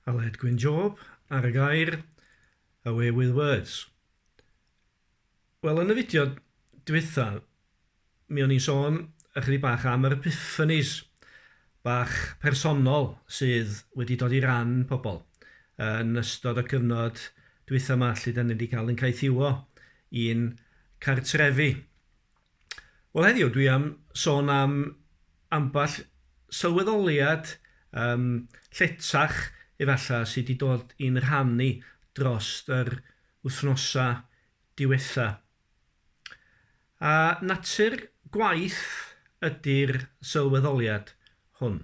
Aled Gwyn Job ar y gair Away with Words. Wel, yn y fideo dwytha, mi o'n i'n sôn ychydig bach am yr epiphanies bach personol sydd wedi dod i ran pobl yn ystod y cyfnod dwytha yma lle da ni wedi cael yn caethiwo i'n cartrefi. Wel heddiw dwi am sôn am ambell sylweddoliad yym lletach efallai sy' 'di dod i'n rhan ni dros yr wythnosa' diwetha'. A natur gwaith ydi'r sylweddoliad hwn.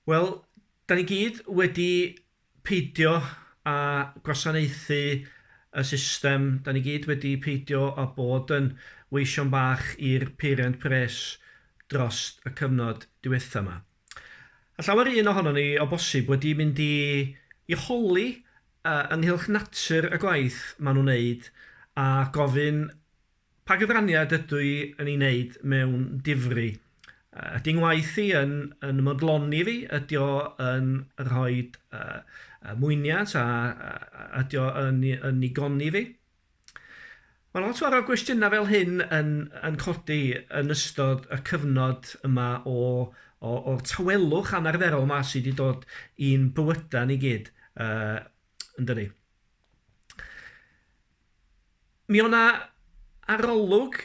Wel, 'dan ni gyd wedi peidio â gwasanaethu y system, da ni gyd wedi peidio â bod yn weision bach i'r peiriant pres dros y cyfnod diwetha yma. A llawer un ohonon ni, o bosib, wedi mynd i i holi ynghylch natur y gwaith maen nhw'n wneud a gofyn Pa gyfraniad ydw i yn ei wneud mewn difri? Ydy ngwaith i yn yn modloni fi? Ydy o yn rhoi mwyniant a ydy o yn yn nigoni fi? Mae lot fawr o gwestiynau fel hyn yn yn codi yn ystod y cyfnod yma o o o'r tawelwch anarferol 'ma sy' 'di dod i'n bywyda ni gyd yy yndydi? Mi o' 'na arolwg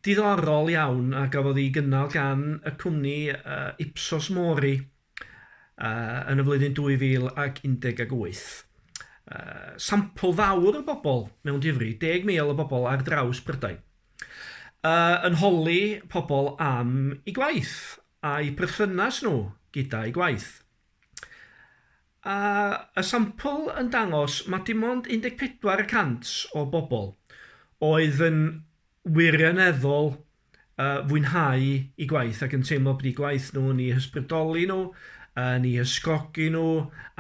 diddorol iawn a gafodd ei gynnal gan y cwmni yy Ipsos Mori yy yn y flwyddyn 2018. Yy sampl fawr o bobl mewn difri, deg mil o bobl ar draws Prydain, yy yn holi pobl am eu gwaith a'u perthynas nhw gyda'u gwaith. A y sampl yn dangos ma' dim ond 14 y cant o bobl oedd yn wirioneddol yy fwynhau 'u gwaith ac yn teimlo bod 'u gwaith nhw yn 'u hysbrydoli nhw, yn 'u hysgogi nhw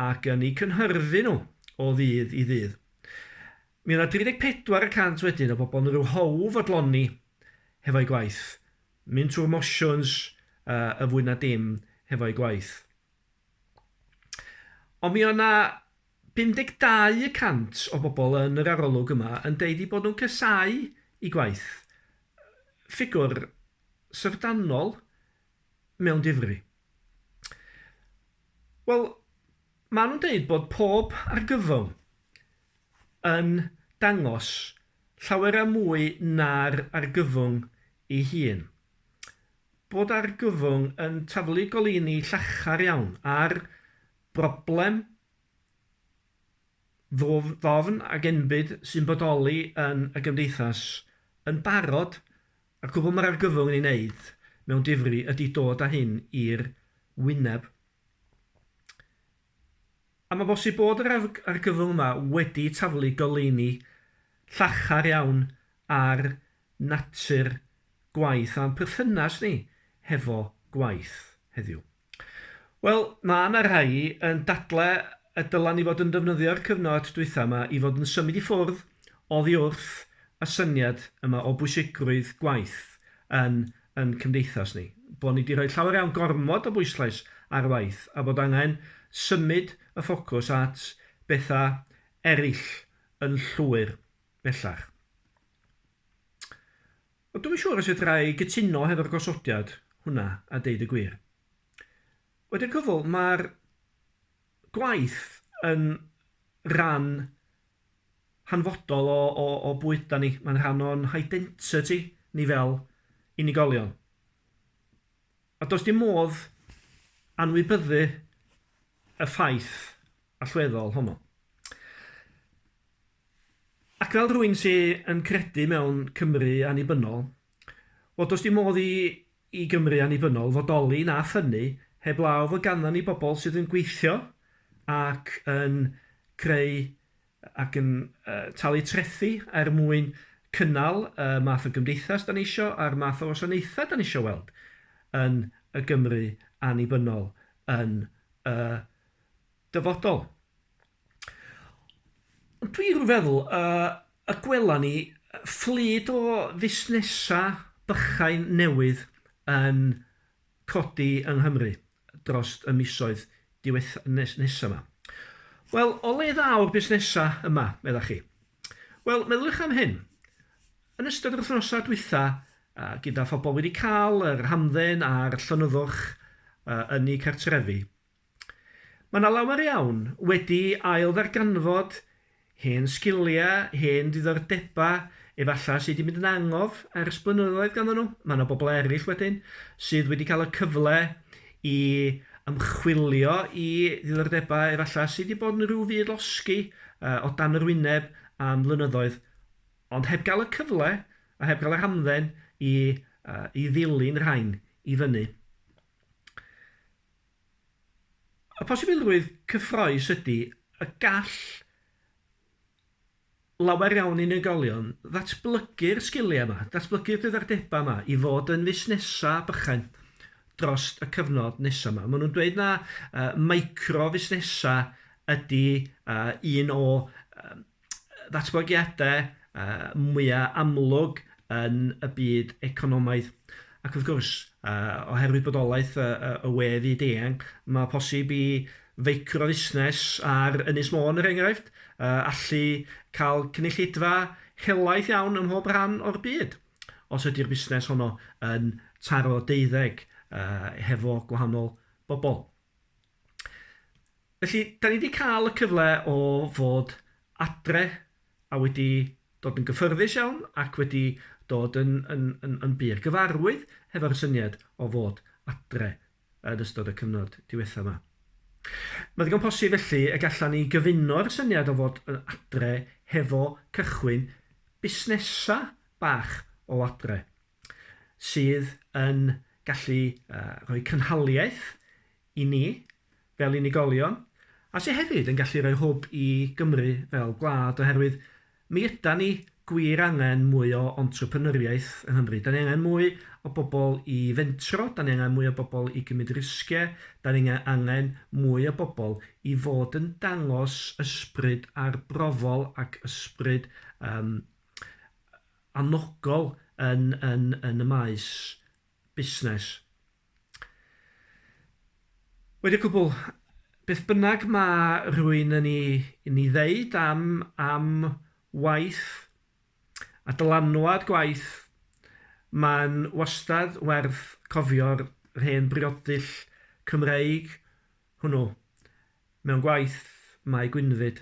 ac yn 'u cynhyrfu nhw o ddydd i ddydd. Mi o' 'na 34 y cant wedyn o bobl yn rhyw how fodloni hefo'u gwaith, mynd trwy'r mosiwns yy yn fwy na dim hefo'u gwaith. Ond mi oedd 'na 52 y cant o bobl yn yr arolwg yma yn deud eu bod nhw'n casáu eu gwaith. Ffigwr syfrdanol mewn difri. Wel, maen nhw'n deud bod pob argyfwng yn dangos llawer mwy na'r argyfwng ei hun. bod argyfwng yn taflu goleuni llachar iawn ar broblem ddwfn ac enbyd sy'n bodoli yn y gymdeithas yn barod, a'r cwbl mae'r argyfwng yn ei wneud mewn difri ydy dod â hyn i'r wyneb. A mae'n bosib bod yr argyfwng yma wedi taflu goleuni llachar iawn ar natur gwaith a'n perthynas ni hefo gwaith heddiw. Wel, mae yna rhai yn dadlau y dylen ni fod yn defnyddio'r cyfnod dwytha yma i fod yn symud i ffwrdd oddi wrth y syniad yma o bwysigrwydd gwaith yn yn cymdeithas ni, bod ni 'di rhoi llawer iawn gormod o bwyslais ar waith a bod angen symud y ffocws at bethau eraill yn llwyr bellach. Ond dwi'm yn siŵr os fedra i gytuno hefo'r gosodiad hwnna a deud y gwir. Wedi'r cyfl, mae'r gwaith yn ran hanfodol o, o, o bwyda ni. Mae'n rhan o'n hidentiti ni fel unigolion. A does dim modd anwybyddu y ffaith allweddol honno. Ac fel rwy'n sy'n yn credu mewn Cymru annibynnol, wel, does dim modd i i Gymru annibynnol fodoli na ffynnu heblaw fod ganddon ni bobl sydd yn gweithio ac yn creu ac yn talu trethi er mwyn cynnal y math o gymdeithas dan ni isio a'r math o wasanaethau dan ni isio weld yn y Gymru annibynnol yn y dyfodol. Dwi rw feddwl y y gwela ni fflyd o fusnesa bychain newydd yn codi yng Nghymru drost y misoedd diweth- nes- nesa 'ma. Wel, o le ddaw'r busnesa yma, meddach chi? Wel, meddyliwch am hyn. Yn ystod yr wythnosa dwytha, a gyda phobol wedi ca'l yr hamdden a'r llonyddwch yy yn 'u cartrefi, Mae 'na lawer iawn wedi ail-ddarganfod hen sgiliau, hen ddiddordebau efallai sy' 'di mynd yn angof ers blynyddoedd ganddyn nhw. Mae 'na bobl eraill wedyn sydd wedi cael y cyfle i ymchwilio i ddiddordebau efallai sy' 'di bod yn rhyw fyd losgi yy o dan yr wyneb am flynyddoedd ond heb gael y cyfle a heb gael yr hamdden i yy i ddilyn rhain i fyny. Y posibilrwydd cyffrous ydy y gall lawer iawn unigolion ddatblygu'r sgiliau yma, datblygu'r diddordebau yma i fod yn fusnesau bychain dros y cyfnod nesaf yma. Maen nhw'n dweud na uh, micro fusnesau ydy uh, un o uh, ddatblygiadau mwya' amlwg yn y byd economaidd. Ac wrth gwrs, oherwydd bodolaeth y we fyd eang, mae posib i feicrofusnes ar Ynys Môn, er enghraifft, allu cael cynulleidfa helaeth iawn ym mhob rhan o'r byd, os ydy'r busnes honno yn taro deuddeg hefo gwahanol bobl. Felly, da ni wedi cael y cyfle o fod adre a wedi dod yn gyffyrddus iawn ac wedi dod yn, yn, yn, yn bur gyfarwydd hefo'r syniad o fod adre yn ystod y cyfnod diwethaf yma. Mae'n ddigon posib felly y gallan ni gyfuno'r syniad o fod yn adre hefo cychwyn busnesau bach o adre. sydd yn gallu rhoi cynhaliaeth i ni fel unigolion, a sydd hefyd yn gallu rhoi hwb i Gymru fel gwlad, oherwydd mi ydan ni gwir angen mwy o entrepreneuriaeth yng Nghymru. Da ni angen mwy o bobl i fentro, da ni angen mwy o bobl i gymryd risgiau, da ni angen mwy o bobl i fod yn dangos ysbryd arbrofol ac ysbryd um, anogol yn yn yn y maes busnes. Wedi cwbl, beth bynnag ma' rhywun yn 'i yn 'i ddeud am am waith a dylanwad gwaith, ma'n wastad werth cofio'r hen briodyll Cymreig hwnnw, mewn gwaith mae Gwynfyd.